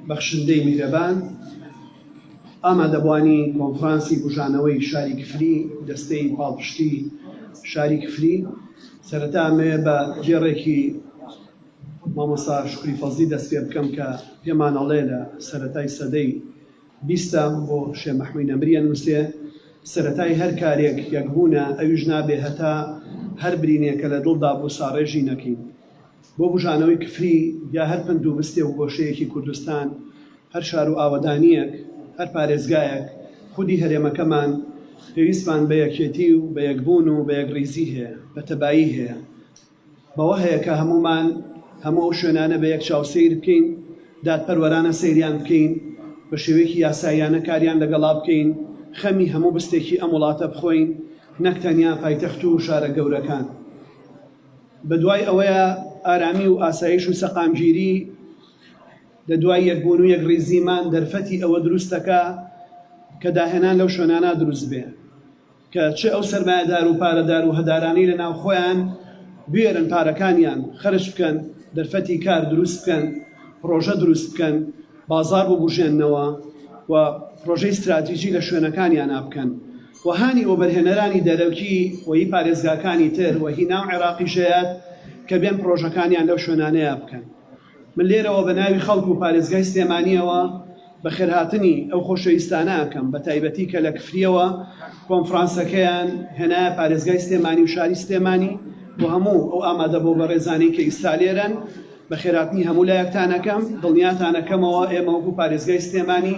بەخشندەی میهرەبان، ئامادەبوانی کۆنفرانسی بوژانەوەی شاری کفری، دەستەی پاڵپشتی شاری کفری، سەرەتا ئەمەوێ بە دێڕێکی مامۆستا شکری فەزلی دەست پێ بکەم کە پێمان ئەڵێ لە سەرەتای سەدەی بیستە بۆ شێ مەحموی نەمریە نووسێ سەرەتای هەر کارێک یەکبوونە ئەویش نابێ هەتا هەر برینێکە لە دڵدا بوو ساڕێژی نەکەین. بۆ بوژانەوەی کفری یا هەر پەند و بستێ و گۆشەیەکی کوردستان، هەر شار و ئاوەدانییەک، هەر پارێزگایەک، خودی هەرێمەکەمان، پێویستمان بە یەکێتی و بە یەکبوون و بە یەکڕیزی هەیە، بە تەبایی هەیە. بەوە هەیە کە هەموومان هەموو ئەو شوێنانە بە یەک چاو سەیر بکەین، دادپەروەرانە سەیریان بکەین، بە شێوەیەکی یاساییانە کاریان لەگەڵا بکەین، خەمی هەموو بستێکی ئەم وڵاتە بخۆین، نەک تەنیا پایتەخت و شارە گەورەکان. بەدوای ئەوەی ئارامی و ئاسایش و سەقامگیری لە دوای یەکبوون و یەکڕیزیمان دەرفەتی ئەوە دروست دەکا کە داهێنان لەو شوێنانە دروست بێ کە چ ئەو سەرمایەدار و پارەدار و هەدارانەی لە ناو خۆیان بوێرن پارەکانیان خەرج بکەن، دەرفەتی کار دروست بکەن، پڕۆژە دروست بکەن، بازاڕ ببوژێننەوە و پڕۆژەی ستراتیجی لە شوێنەکانیانا بکەن. و هانی وەبەرهێنەرانی دەرەکی و هی پارێزگاکانی تر و هی ناو عێراقیش دەیات کە بێن پڕۆژەکانیان لەو شوێنانەیا بکەن. من لێرەوە بە ناوی خەڵک و پارێزگای سلێمانیەوە بەخێرهاتنی ئەو خۆشەویستانە ئەکەم بە تایبەتی کە لە کفریەوە کۆنفڕانسەکەیان هێنایە پارێزگای سلێمانی و شاری سلێمانی و هەموو ئەو ئامادە بۆ بەڕێزانەی کە ئیستا لێرەن بەخێرهاتنی هەموو لایەکتان ئەکەم دڵنیاتان ئەکەمەوە ئێمە وەکو پارێزگای سلێمانی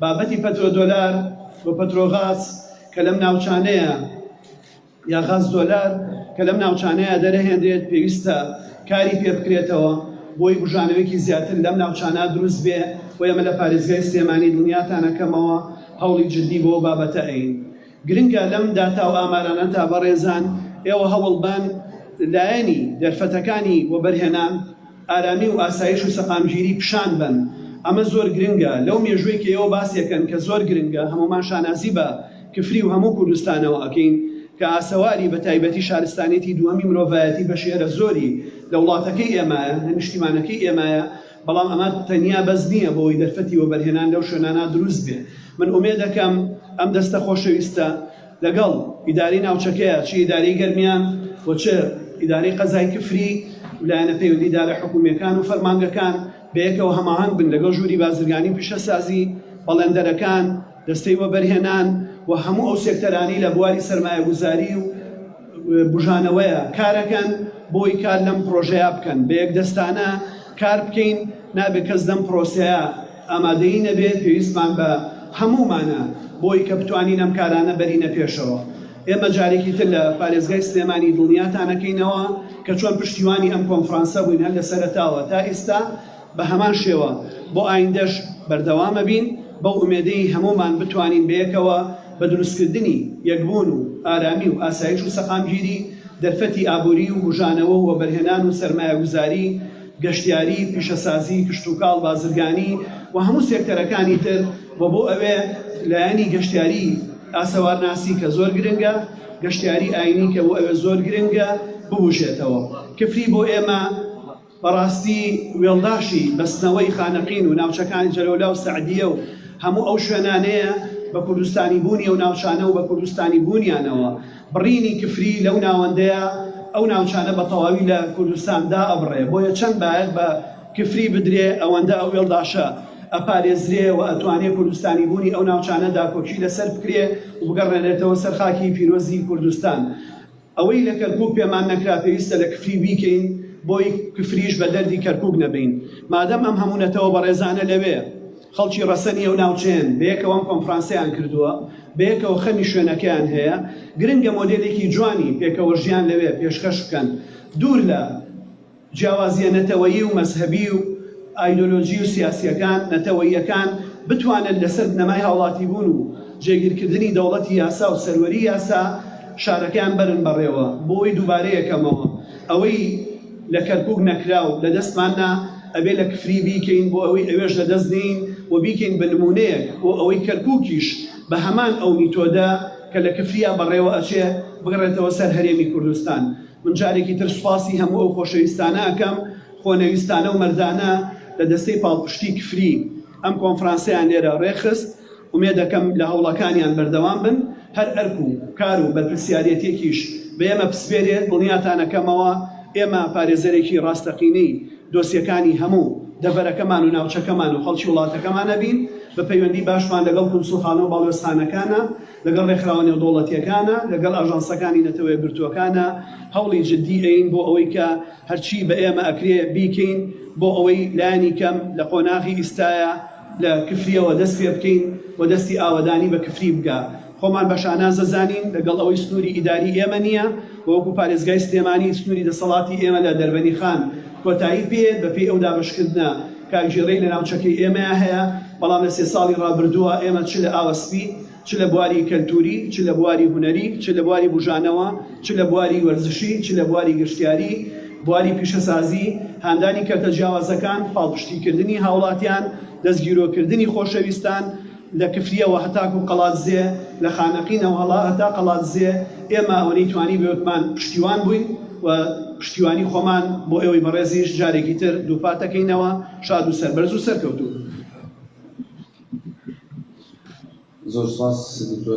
بابەتی پەترۆ دۆلار و پەترۆ غاز کە لەم ناوچانەیە یا غاز دۆلار کە لەم ناوچانەیە دەرەهێنرێت پێویستە کاری پێ بکرێتەوە بۆی بژانەوەیکی زیاتر لەم ناوچانە دروست بێ و ئێمە لە پارێزگای سلێمانی دڵنیاتانەکەمەوە هەوڵی جددی بۆ بابەتە ئەین. گرنگە لەم داتا و ئامارانە تا بەڕێزان ئێوە هەوڵ بان لایەنی دەرفەتەکانی وەبەرهێنان، ئارامی و ئاسایش و سەقامگیری پیشان بەن، ئەمە زۆر گرنگە لەو مێژووەی کە ئێوە باسیەکەن کە زۆر گرنگە هەموومان شانازی بە کفری و هەموو کوردستانەوە ئەکەین کە ئاسەواری بە تایبەتی شارستانیەتی دووەمی مرۆڤایەتی بەشێرە زۆری لە وڵاتەکەی ئێمایە، لە نیشتیمانەکەی ئێمایە. بەڵام ئەمە تەنیا بەس نییە بۆ ئەوەی دەرفەتی وەبەرهێنان لەو شوێنانە دروست بێ. من ئومێد ئەکەم ئەم دەستە خۆشەویستە لەگەڵ ئیدارەی ناوچەکەیە، چ ئیدارەی گەرمیان و چ ئیدارەی قەزای کفری و لایەنە پەیوەندیدارە حکوومییەکان و فەرمانگەکان بەیەکەوە هەماهەنگ بن لەگەڵ ژووری بازرگانی و پیشەسازی بەڵێندەرەکان، دەستەی وەبەرهێنان و هەموو ئەو سێکتەرانی لە بواری سەرمایەگوزاری و بژانەوەیە کارەکەن بۆی کار لەم پرۆژەیە بکەن بە یەک دەستانە کار بکەین نابێت کەس دەم پرۆسەیە ئامادەی نەبێت پێویستمان بە هەمومانە بۆی کە بتوانین ئەم کارانە بەرینە پێشەوە ئێمە جارێکی تر لە پارێزگای سلێمانی دڵنیاتانەکەینەوە کە چۆن پشتیوانی ئەم کۆنفرانسە بووین هەر لە سەرتاوە تا ئێستا بە هەمان شێوە بۆ ئایندەش بەردەوام ئەبین، بەو ئومێدەی هەموومان بتوانین بەیەکەوە بە دروستکردنی یەکبوون و ئارامی و ئاسایش و سەقامگیری، دەرفەتی ئابووری و بوژانەوە و وەبەرهێنان و سەرمایەگوزاری، گەشتیاری، پیشەسازی، کشتوکاڵ، بازرگانی و هەموو سێکتەرەکانی تر و بۆ ئەوێ لایەنی گەشتیاری ئاسەوارناسی کە زۆر گرنگە، گەشتیاری ئاینی کە بۆ ئەوێ زۆر گرنگە ببوژێتەوە. کفری بۆ ئێمە. بەڕاستی وێڵداشی بەستنەوەی خانەقین و ناوچەکانی جەلەولا و سەعدیە و هەموو ئەو شوێنانەیە بە کوردستانی بوونی و ناوچانە و بە کوردستانی بوونیانەوە بڕینی کفری لەو ناوەندەیە ئەو ناوچانە بە تەواوی لە کوردستان دا ئەبڕێ بۆیە چەند باەت بە کفری بدرێ ئەوەندە ئەو وێڵداشە ئەپارێزرێ و ئەتوانێ کوردستانی بوونی ئەو ناوچانە داکۆکی لەسەر بکرێ و بگەڕێنێتەوە سەر خاکی پیرۆزی کوردستان. ئەوەی لە کەرکوک پێمان نەکرا پێویستە لە کفری بیکەین بۆی کفریش بە دەردی کەرکوک نەبەین مادەم ئەم هەموو نەتەوە بەڕێزانە لەوێ خەڵکی ڕەسەنی ئەو ناوچەیەن بەیەکەوە ئەم کۆنفرانسەیان کردووە بەیەکەوە خەمی شوێنەکەیان هەیە گرنگە مۆدێلێکی جوانی پێکەوە ژیان لەوێ پێشکەش بکەن دوور لە جیاوازییە نەتەوەیی و مەزهەبی و ئایدۆلۆژی و سیاسییەکان، نەتەوەییەکان، بتوانن لەسەر بنەمای هاوڵاتیبوون و جێگیرکردنی دەوڵەتی یاسا و سەروەری یاسا شارەکەیان بەرن بەڕێوە. بۆی دووبارەیەکەمەوە، ئەوەی لە کەرکوک نەکرا و لەدەستمان نا، ئەبێ لە کفری بیکەین بۆ ئەوەی ئەوێش لەدەست نێین و بیکەین بە نموونەیەک بۆ ئەوەی کەرکوکیش بە هەمان ئەو میتۆدە کە لە کفرییە بەڕێوە ئەچێ، بگەڕێتەوە سەر هەرێمی کوردستان. من جارێکی تر سوپاسی هەموو ئەو خۆشەویستانە ئەکەم، خۆنەویستانە و مەردانە لە دەستەی پاڵپشتی کفری ئەم کۆنفرانسەیان لێرە ڕێکخست، ئومێدەکەم لە هەوڵەکانیان بەردەوام بن، هەر ئەرک و کار و بەرپرسیارێتیەکیش بە ئێمە بسپێرێت دڵنیاتان ئەکەمەوە ئێمە پارێزەرێکی ڕاستەقینەی دۆسیەکانی هەموو دەڤەرەکەمان و ناوچەکەمان و خەڵکی وڵاتەکەمان ئەبین، بە پەیوەندی باشمان لەگەڵ کونسوڵخانە و باڵوێزخانەکانە، لەگەڵ ڕێکخراوە نێودەوڵەتییەکانە، لەگەڵ ئاژانسەکانی نەتەوەیەکگرتووەکانە، هەوڵی جددی دەین بۆ ئەوەی کە هەرچی بە ئێمە ئەکرێ بیکەین بۆ ئەوەی لایەنی کەم لە قۆناغی ئیستایا لە کفرییەوە دەست پێ بکەین و دەستی ئاوەدانی بە کفری بگا. خۆمان بە شاناز دەزانین لەگەڵ ئەوەی سنووری ئیداری ئێمە نییە و وەکوو پارێزگای سلێمانی سنووری دەسەڵاتی ئێمە لە دەربەنیخان کۆتایی پێیەت بە پێی ئەو دابەشکردنە کارگێڕیەی لە ناوچەکەی ئێمەیا هەیە، بەڵام لە سێ ساڵی ڕابردووە ئێمە چ لە ئاوە سپی، چ لە بواری کەلتوری، چ لە بواری هونەری، چ لە بواری بوژانەوە، چ لە بواری وەرزشی، چ لە بواری گەشتیاری، بواری پیشەسازی، هاندانی کەرتە جیاوازەکان، پاڵپشتی کردنی هاوڵاتیان، دەستگیرۆ کردنی خۆشەویستان، لە کفریەوە هەتاکو قەڵادزێ، لە خانەقینەوە هەڵا هەتا قەڵادزێ، ئێمە ئەوەنەی توانین بەوێکمان پشتیوان بووین و پشتیوانی خۆمان بۆ ئێوەی بەڕێزیش جارێکی تر دووپاتەکەینەوە، شاد و سەربەرز و سەرکەوتوو. زۆر سوپاس دکتۆر.